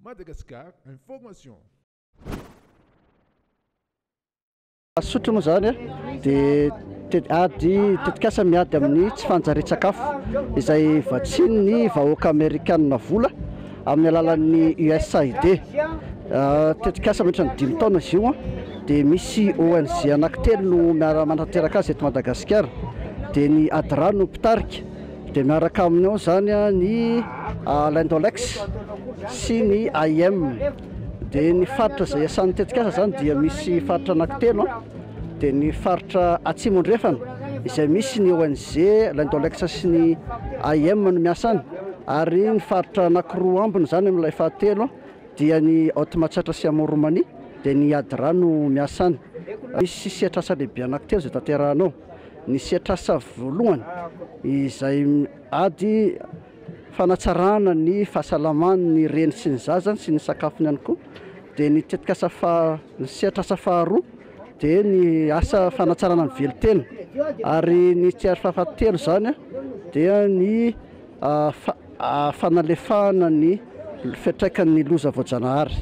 Madagascar Information. Mazotoa moa izany dia ady tetikasa miady amin'ny tsy fanjarian-tsakafo izay vatsian'ny vahoaka amerikanina vola amin'ny alalan'ny USAID. Tetikasa mihoatra ny dimy taona izy io dia misy ONG anankitelo no miara-manatanteraka azy eto Madagasikara dia ny ADRA no mpitarika. Dia miaraka aminy ao izany ny Lindolex sy ny AIM. Dia ny faritra izay iasan'ny tetikasa izany dia misy faritra anankitelo an, dia ny faritra Atsimo Andrefana izay misy ny ONG Lindolex sy ny AIM no miasa any, ary ny faritra anankiroa ambiny izany amin'ilay fahatelo an dia ny Haute Matsiatra sy Amour Roumanie dia ny ADRA no miasa any. Misy sehatrasa lehibe anankitelo izay tanterahana ao. Ny sehatr'asa voalohany izay ady fanatsarana ny fahasalaman'ny reny sy ny zazany sy ny sakafony ihany koa dia ny tetikasa faha, ny sehatr'asa faharoa dia ny asa fanatsarana ny velon-tena ary ny sehatr' fahatelo izany dia ny fanalefahana ny fiantraikan'ny loza voajanahary.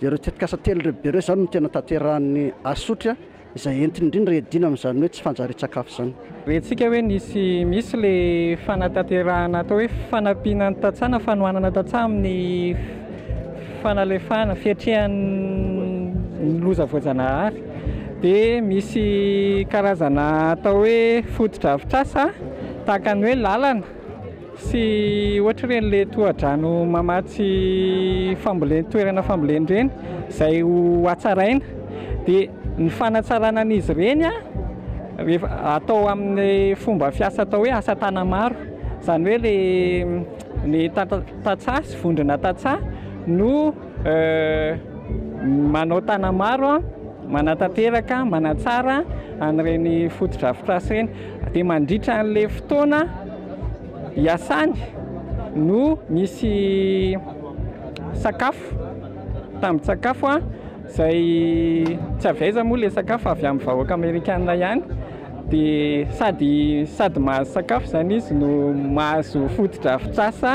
Dia ireo tetikasa telo lehibe ireo izany no tena tanterahan'ny Asotry. izay entiny indrindra iadiana amin'izany hoe tsy fanjarian-tsakafo izany. Rentsika hoe nisy misy ilay fanatanterahana atao hoe fanampiana ny tantsaha-na fanohanana tantsaha amin'ny fanalefahana, fiatrehan'ny loza voajanahary. Dia misy karazana atao hoe fotodrafitrasa tahaka ny hoe lalana. Tsy ohatr'ireny le tohadrano mamatsy fambolen toerana fambolen-dreny izay ho hatsaraina dia ny fanatsarana an'izy ireny rehefa atao amin'ny fomba fiasa atao hoe asa tanamaro izany hoe le ny tata- tantsaha sy vondrona tantsaha no manao tanamaro manatanteraka manatsara an'ireny fotodrafitrasa ireny Dia mandritra an'ilay fotoana iasany no nisy sakafo, tambin-tsakafo izay tsy avy aiza moa ilay sakafo fa avy amin'ny vahoaka amerikana ihany, dia sady sady mahazo sakafo izany izy no mahazo fotodrafitrasa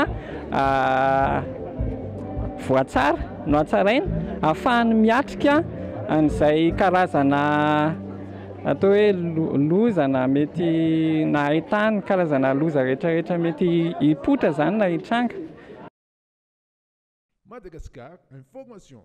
voatsara nohatsaraina ahafahany miatrika an'izay karazana Atao hoe loza na mety na ahitana ny karazana loza rehetrarehetra mety hipoitra izany na hitranga. Madagascar Informations.